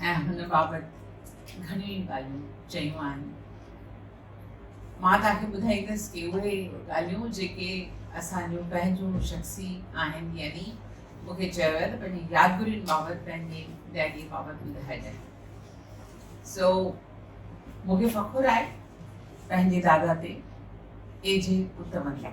۽ هن بابت گهڻيون ئي ڳالهيون چيون آهن. مان توهان کي ٻڌائيندس ڪي اهي ڳالهيون جيڪي اسان جون پنهنجون شخصي آهن يعني مون کي چيو ويو ته پنهنجي يادگرين بابت پنهنجي ڊيڊي بابت ٻڌائجانء سو مون کي فخر آهي پنهنجي دادا تي ايجي پٽ وانگي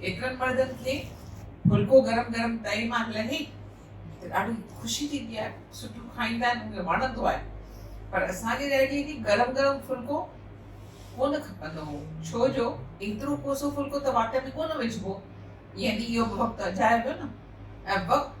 ايترن مردن کي ڦلڪو گرم گرم تئي مان لهي ته ڏاڍي خوشي ٿيندي آهي سٺو کائيندا آهن ان کي وڻندو آهي پر اسان جي ڏيريء کي گرم گرم ڦلڪو ڪونه کپندو هو ڇو جو ايترو ڪوسو ڦلڪو ته واٽ ۾ ڪونه وجهبو يعني اهو وقت اجايو ويو نه ۽ وقت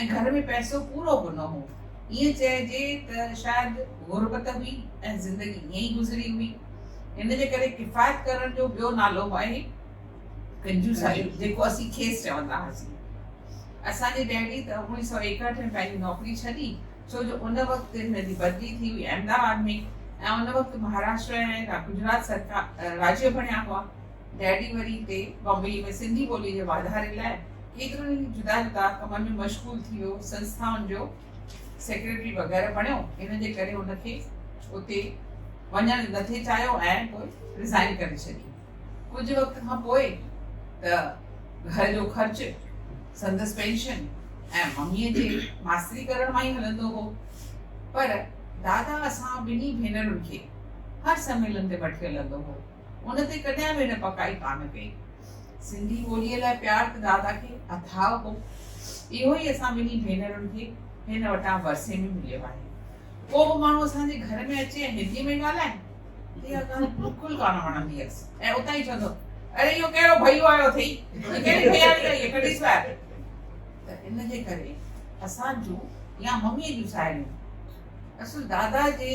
۽ گهر ۾ پئسو پورو به نه هو. ائين چئجي ته شايد غربت هئي ۽ زندگي ائين ئي گذري هئي. ان جي ڪري ڪفايت ڪرڻ جو ٻيو نالو به آهي ڪنجوسائي جيڪو اسين کيس چوندا هئاسين. اسان جي ڊيڊي ته اوڻيهه سؤ ايڪهٺ ۾ پنهنجي نوڪري ڇڏي ڇو جو ان وقت هن جي بدلي ٿي هئي احمد آباد ۾ ۽ ان وقت مهاراشٽر ۽ گجرات سرڪار راجيو بڻيا هئا. ڊيڊي مري تي بامبيء ۾ سنڌي ٻوليء جي واڌاري لاء ڪيترن ئي جدا جدا ڪمن ۾ مشغول ٿي ويو، سنسٿائن جو سيڪريٽري وغيره بڻيو، ان جي ڪري هن کي اتي وڃڻ نه ٿي چاهيو ۽ پوء رزائين ڪري ڇڏي. ڪجهه وقت کان پوء ته گهر جو خرچ، سندس پينشن ۽ مميء جي ماستري ڪرڻ مان ئي هلندو هو، پر دادا اسان ٻنهي ڀينرن کي هر سميلن تي وٺي هلندو هو. ان تي ڪڏهن به هن پڪائي ڪانه ڪئي. سنڌي ٻوليء لاء پيار ته دادا کي اٿاهه هو. اهو ئي اسان ٻنهي ڀينرن کي هن وٽان ورثي ۾ مليو آهي. ڪو به ماڻهو اسان جي گهر ۾ اچي ۽ هنديء ۾ ڳالهائي ته اها ڳالهه بلڪل ڪانه وڻندي هيس ۽ اتان ئي چوندو، اڙي اهو ڪهڙو ڀيو آيو اٿئي؟ هي ڪهڙي ڀياڻي آئي آهي؟ ڪڍيس ٻاهر. ته ان جي ڪري اسان جون يا مميء جون ساهيڙيون اصل دادا جي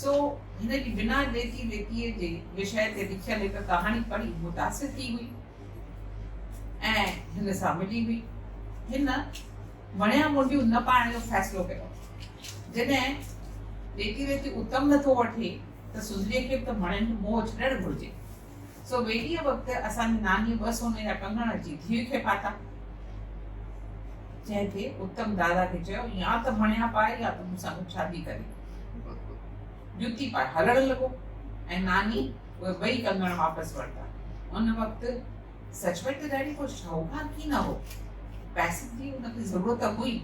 سو هن جي بنا ديتي ويتيء جي وشيه تي لکيل هڪ ڪهاڻي پڙهي متاثر ٿي هئي ۽ هن سان ملي هئي. هن وڻيا منڊيون نه پائڻ جو فيصلو ڪيو. جڏهن ديتي ويتي اتم نٿو وٺي ته سنڌڙيء کي به ته مڻين جو موهه ڇڏڻ گهرجي. سو ويڙهيء وقت اسان جي نانيء ٻه سوني جا ڪنگڻ اچي ڌيء کي پاتا، جنهن تي اتم دادا کي چيو، يا ته مڻيا پائي يا ته مون سان گڏ شادي ڪري جتي پائي هلڻ لڳو ۽ ناني اهي ٻئي ڪنگڻ واپس ورتا. ان وقت سچ پچ ته ڊيڊي ڪو شاهوڪار ڪي نه هو، پئسن جي هن کي ضرورت هئي،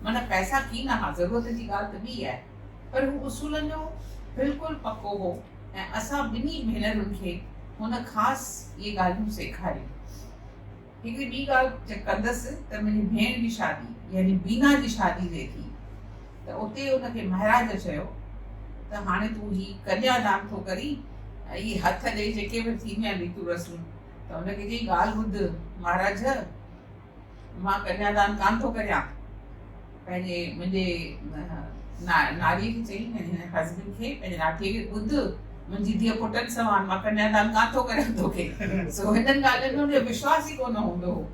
من پئسا ڪي نه ها، ضرورت جي ڳالهه ته ٻي آهي، پر هو اصولن جو بلڪل پڪو هو. ۽ اسان ٻنهي ڀينرن کي هن خاص اهي ڳالهيون سيکاريون. هڪڙي ٻي ڳالهه جا ڪندس ته منهنجي ڀيڻ جي شادي يعني بينا جي شادي تي ٿي ته اتي ان کي مهراج چيو ته هاڻي تون هي ڪنيا دان ٿو ڪرين ۽ اهي هٿ ڏئي جيڪي به ٿينديون آهن ريتون رسمون ته ان کي چئي ڳالهه ٻڌ مهراج مان ڪنيادان ڪانه ٿو ڪريان. پنهنجي منهنجي ناريء کي چئي، يعني حضبين کي، پنهنجي ناٺيء کي، ٻڌ، منهنجي ڌيء پٽن سوان مان ڪنيادان ڪانه ٿو ڪريان توکي. سو هنن ڳالهين ۾ هن جو وشواس ئي ڪونه هوندو هو.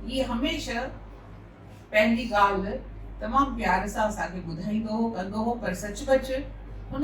هيء هميشه پنهنجي ڳالهه تمام پيار سان اسان کي ٻڌائيندو هو، ڪندو هو، پر سچ پچ هن.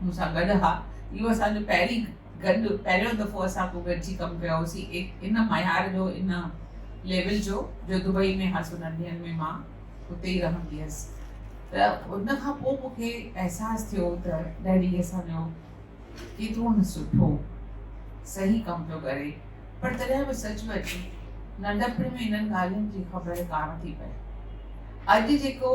مون سان گڏ ها. اهو اسان جو پهرين گڏ پهريون دفعو اسان پو گڏجي ڪم ڪيو هوسين ايڪ ان معيار جو ان ليول جو جو دبئي ۾ هاس انهن ڏينهن ۾ مان اتي ئي رهندي هيس ته ان کان پو مون کي احساس ٿيو ته ڊيڊي اسان جو ڪيترو نه سٺو صحيح ڪم پيو ڪري پر تڏهن به سچ وچ ننڍپڻ ۾ انهن ڳالهين جي خبر ڪانه ٿي پئي اڄ جيڪو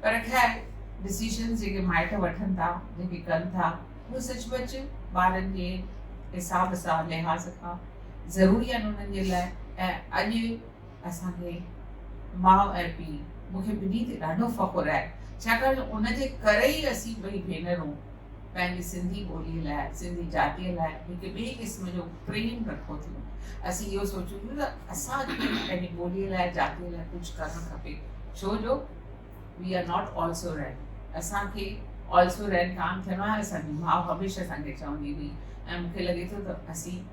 پر خير ڊسيشنز جيڪي مائٽ وٺن ٿا جيڪي ڪن ٿا اهي سچ پچ ٻارن جي حساب سان لحاظ کان ضروري آهن انهن جي لاء ۽ اڄ اسانکي ماء ۽ پيء مونکي ٻنهي تي ڏاڍو فخر آهي ڇاڪاڻ جو ان جي ڪري ئي اسين ٻئي ڀينرون پنهنجي سنڌي ٻوليء لاء، سنڌي جاتيء لاء هڪ ٻئي قسم جو پريم رکو ٿيون. اسين اهو سوچون ٿيون ته اسان کي به پنهنجي ٻوليء لاء، جاتيء لاء ڪجهه ڪرڻ کپي ڇو جو we are not also rain. اسان کي آلسو رين ڪانه ٿيڻو آهي. اسان جي ماء هميشه اسان کي چوندي هئي ۽ مون کي لڳي ٿو ته اسين